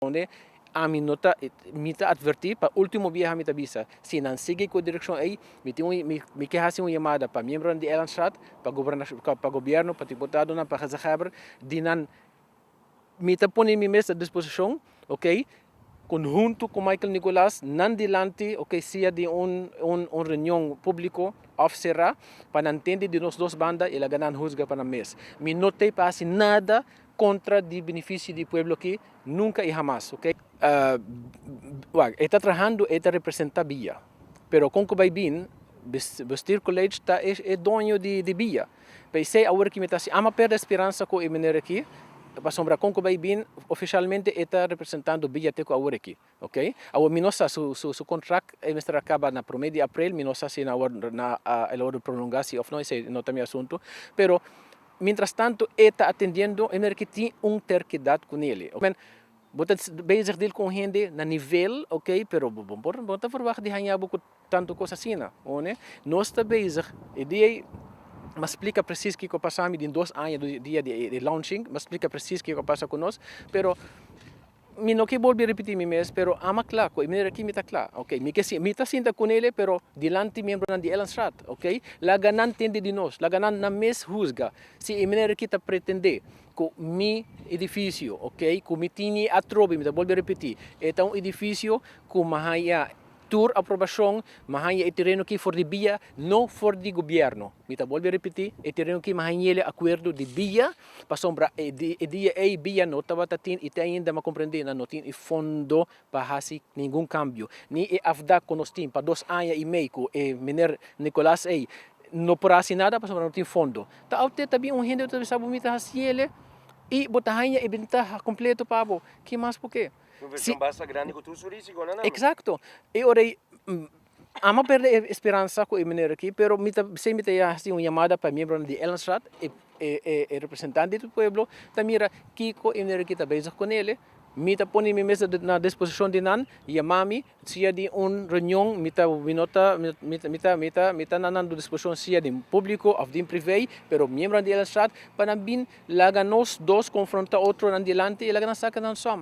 Conde ami no ta mi ta adverti pa ultimo biaha ami ta bisa si nan sigui cu e direccion ey mi tin un mi ke haci un yamada pa miembronan di Ellandstraat pa gobernacion pa gobierno pa diputadonan pa gezagheber di nan mi ta pone mi mes a disposicion ok conhunto cu Michael Nicolas nan dilanti ok sia den un un un reunion publico of cera pa nan tende di nos dos banda y laga nan huzga pa nan mes mi no ta y pa haci nada contra di beneficio di e pueblo aki nunca y jamas ok. Wak, e ta trahando, e ta representa bia. Pero con cu bay bin, Bestier College ta e doño di bia. Paisey awor aki mi ta hasi, amo a perde speransa cu e meneer aki, pasobra con cu bay bin, oficialmente e ta representando bia te cu awor aki. Ok. Awor mi no sa su su contract e mester a caba na prome di april, mi no sa si awor na el a wordo prolonga si of no, esey no ta mi asunto, pero mientras tanto e ta atendiendo e merk ki tin un terquedad cu Nele. Oke. Bo ta bezig deal cu un hende na nivel, ok, pero bo bo bo no ta verwacht di hañabo cu tanto cos asina, oe ne. Nos ta bezig, e dia ey mi a splica precies kico a pasa mi den dos aña dia di e launching, mi a splica precies kico a pasa cu nos, pero. Mi no ke bolbe repití mi mes, pero ama kla ku e manera akí mi ta kla, oke. Mi ke sinta, mi ta sinta ku Nele, pero dilanti miembronan di Ellandstraat, oke. Laga nan tende di nos, laga nan nan mes husga si e manera akí ta pretendé ku mi edifisio, oke, ku mi tin ei atrobe, mi ta bolbe repití, e ta un edifisio ku mahaya. Tur aprobashon, mi haña e tereno ki for di bia, no for di gobièrnu. Mi ta bolbe ripití, e tereno ki mi hañ'el e akuerdo di bia, pasobra e dia ei bia no tabata tin i te ainda mi a komprendé nan no tin e fondo pa hasi ningun kambio. Ni e afdak ku nos tin pa dos aña i mei ku e miner Nicolas ei no por hasi nada pasobra no tin fondo. Ta aut'é ta bin un hende ku ta bisa bo mi ta hasiel i bo ta haña e bentaha kompleto pa bo. Ke mas por ke? Si. Exacto. E ora ei amo perde e speransa cu e meneer aki, pero mi ta bisei mi ta haci un yamada pa e miembronan di Ellenstraat, e representante di e pueblo, ta mira kico e meneer aki ta bezig con el'e, mi ta pone mi mes na disposicion di nan, yama mi, Sia di un reunion mi ta mi no ta mi ta mi ta mi ta mi ta na nan disposicion sia den publico of den privé pero miembronan di Ellenstraat pa nan bin laga nos dos confronta otronan dilanti y laga nan saca nan som.